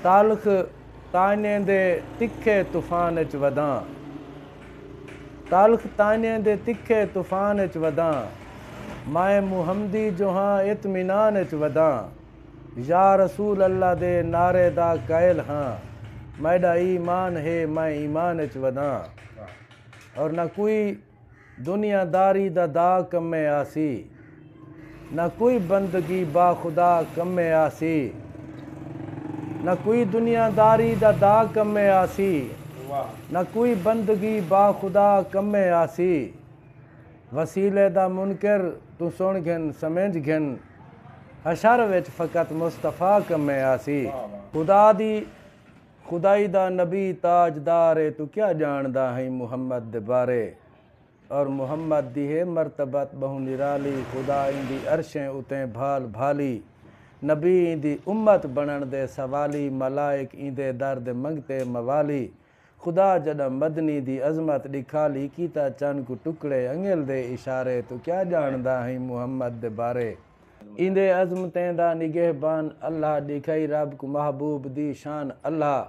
تلخ تانیں دے تکھے طوفان اچ وداں تلخ تانیں دے تکھے طوفان اچ وداں مائیں محمدی جو ہاں اطمینان اچ وداں یا رسول اللہ دے نعرے دا قائل ہاں میڈا ای مان ہے میں ایمان اچ وداں اور نہ کوئی دنیا داری دا دا کمے آسی۔ نہ کوئی بندگی با خدا کمے آسی۔ نہ کوئی دنیا داری دا دا کمے آسی۔ نہ کوئی بندگی با خدا کمے آسی۔ وسیلے دا منکر توں سن گھن سمجھ گھن۔ حشر وچ فقط مصطفی کمے آسی۔ خدا دی۔ خدائی دا نبی تاج دار اے تو کیا جانڑدا ہئیں محمد دے بارے اور محمد دی ہے مرتبت بہوں نرالی خدا ایندی عرشیں اتیں بھال بھالی نبی ایندی امت بنڑن دے سوالی ملائک ایندے در دے منگتے موالی خدا جڈاں مدنی دی عظمت ڈکھالی کیتا چن کوں ٹکڑے انگل دے اشارے تو کیا جانڑدا ہئیں محمد دے بارے۔ ایندے عظمتیں دا نگہبان اللہ ݙیکھائی رب کوں محبوب دی شان اللہ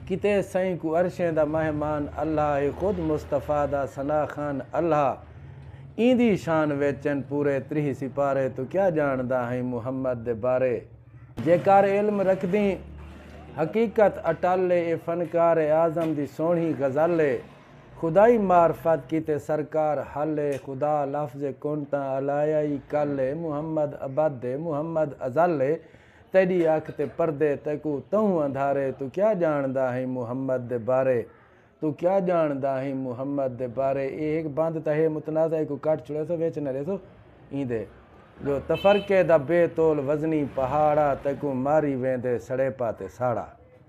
کیتے سئیں کوں عرشیں دا مہمان اللہ ہے خود مصطفی دا ثنا خوان اللہ ایندی شان وچ ان پورے تریہہ سپارے توں کیا ڄاݨدا ہئیں محمد دے بارے جیکار علم رکھدیں حقیقت اٹل ہے اے فنکار اعظم دی سوہݨی غزل ہے۔ خدائی معرفت کیتے سرکار حل اے خدا لفظ کن تاں الایا ای کل اے محمد ابد اے محمد ازل اے تیڈی اکھ تے پردے تیکوں تہوں اندھارے توں کیا جانڑدا ہیں محمد دے بارے توں کیا جانڑدا ہیں محمد دے بارے اے ہک بند تاں ہے متنازعہ ایکوں کٹ چھڑیسوں وچ نہ ریسوں ایندے جو تفرقے دا بے تول وزنی پہاڑا تیکوں ماری ویندے سڑیپا تے ساڑا۔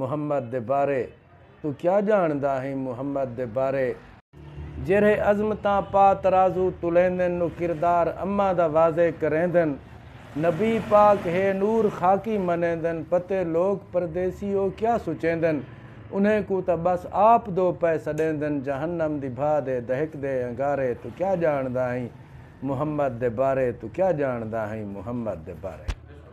محمد دے بارے توں کیا جانڑدا ہیں محمد دے بارے۔ جیرھے عظمتاں پا ترازو تولیندن او کردار اماں دا واضع کریندن نبی پاک ہے نور خاکی منیندن پتے لوک پردیسی او کیا سچیندن انہیں کوں تاں بس آپ دو پئے سڈیندن جہنم دی بھا دے دہکدے انگارے توں کیا جانڑدا ہیں محمد دے بارے توں کیا جانڑدا ہیں محمد دے بارے۔